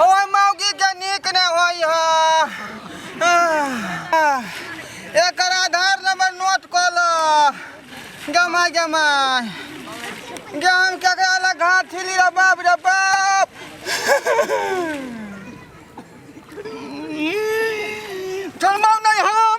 हमर मौगी के नीक न होई ह एकर आधार नंबर नोट क ल गमा गमा गे हम केकरा लग घाट छिली रे बाप रे बाप चलबौ नहीं हम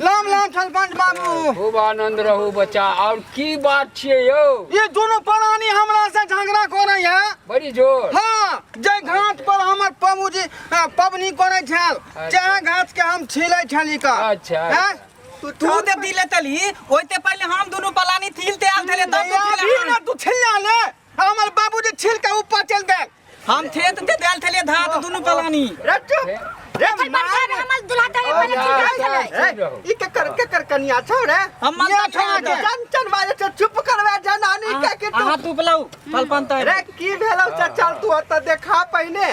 लाम लाम सरपंच बाबू खूब आनंद रहू बच्चा और की बात छिए यो ये दोनों प्राणी हमरा से झगड़ा करे है बड़ी जोर हाँ जे घाट पर हमर बाबूजी अ, पबनी करे छल चाहे घाट के हम छिले छली का अच्छा, हैं? तू ते दिले तली ओइते पहिले हम दुनु पलानी थिल ते आल थले तब तू अभी थिल ना तू छिला ले हमर बाबूजी छिल के ऊपर चल गए हम थे तो दे देल थले धा तो दोनों पलानी रे चुप रे अपन बड़का में हमर दुल्हा तले पर चिल्लात छले रे, ई के कर के कर कनिया छौ रे हम मन ये तक छौ छौ। जन जन बाजे छौ, चुप करवे जनानी के कि तू अहाँ तू पलाऊ पलपन तय रे की भेलौ चल तू ओतऽ देखा पहिने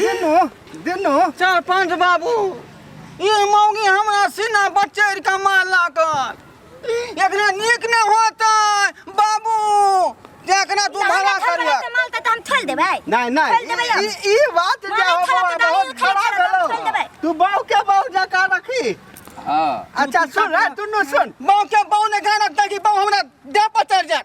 दिनु दिनु चार पाँच बाबू ई मौगी हमरा सीना बचैर के मार लागल एकरा नीक ने होतै बाबू जे एकरा तू भला करिया माल त हम थल देबै नहीं नहीं खोल देबै हम। ई- ई बात जे मारा हो खाना बाबा पकाइए, बहुत खाना खराब पकाइए, खोल भेलो देबै। तू बाऊ के बाऊ जका रखी हाँ अच्छा सुन रे तू नु सुन बाऊ के बाऊ ने गाना तकी बाऊ हमरा देह पर चढ़ जाए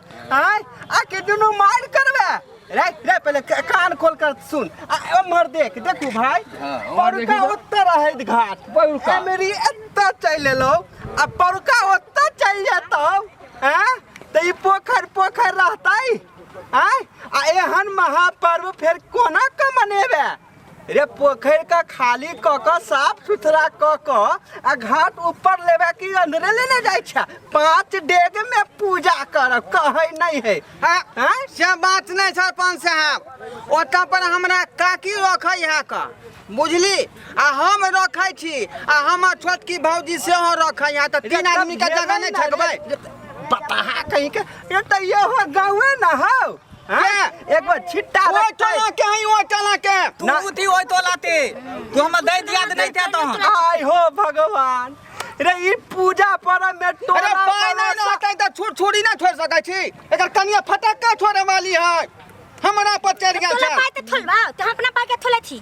आय आ के दुनू मार करबे रे रे पहले क- कान खोल कर सुन आ उम्हर देख देखू भाई हाँ, उम्हर देखी परुका तो। ओत्ते रहैत घाट परुका। मेरी एत्ते चलि एलो आ परुका ओत्ते चलि जेतौ हैं त ई पोखर पोखर रहतै आय आ एहन महापर्व फेर कोना के मनेबे रे पोखरि के खाली क क साफ सुथरा क क आ घाट ऊपर लेबे की अंदरे लेने जाइ छै पांच डेग में पूजा करब कहै नहीं है हाँ, हाँ? से बात नहीं सरपंच साहब ओतऽ पर हमरा काकी रखै है का बुझली आ हम रखै छी आ हमर छोटकी भौजी सेहो रखै है तऽ तीन आदमी के जगह नहीं ठकबै बताहा कहीं के ये तो ये हो गाँवे ना हो हाँ? एक बार छिट्टा ओए लगतै। टोला के हई ओए टोला के तू ना। उठी ओए तो लाते तू हमर दे दिया दे नहीं थे तो हम आय हो भगवान रे ई पूजा परम में अरे टोला पाय नहीं वाला रहते तो छुर छुरी ना छोड़ सकै छी एकर कनिया फटक्का छोड़े वाली है हमरा पर चढ़ गया तोला छै पाए त थोलबा त हम अपना पाए के थोले छी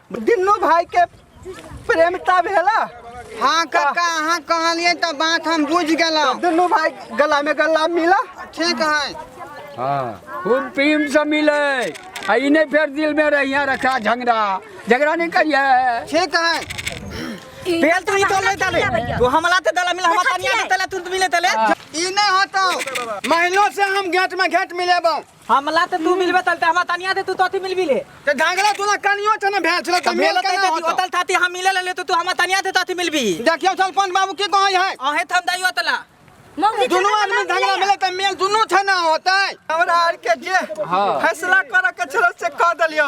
दुनू भाई के प्रेमता भेला हाँ काका अहाँ कहलिए तो बात हम बुझ गलो दुनू भाई गला में गला मिला ठीक है हाँ खूब प्रेम से मिले आ ई नहीं फिर दिल में रहिया रखा झगड़ा झगड़ा नहीं करिए ठीक है बेल तू तो ले तले तू हमला ते दला मिला हम तनिया तले तू मिले तले ई नहीं होतो महिलो से हम गेट में गेट मिलेबो हमला तऽ तू मिलबे तल तऽ हमरा तनिया दे तू तो अथी मिलबी ले ते घाघरा तोला कनियो छ न भेल छला त भेल मेल कना होत होतल थाती हम मिले ले तो तू हमरा तनिया दे तो अथी मिलबी देखियो सरपंच बाबू के कहै है अहे थम दाइयो तला मौगी दुनू खाना आदमी बना झगड़ा दिए। मिले त मेल दुनू छ न होतै हमरा आर के जे फैसला करऽ के छल से कह देलियो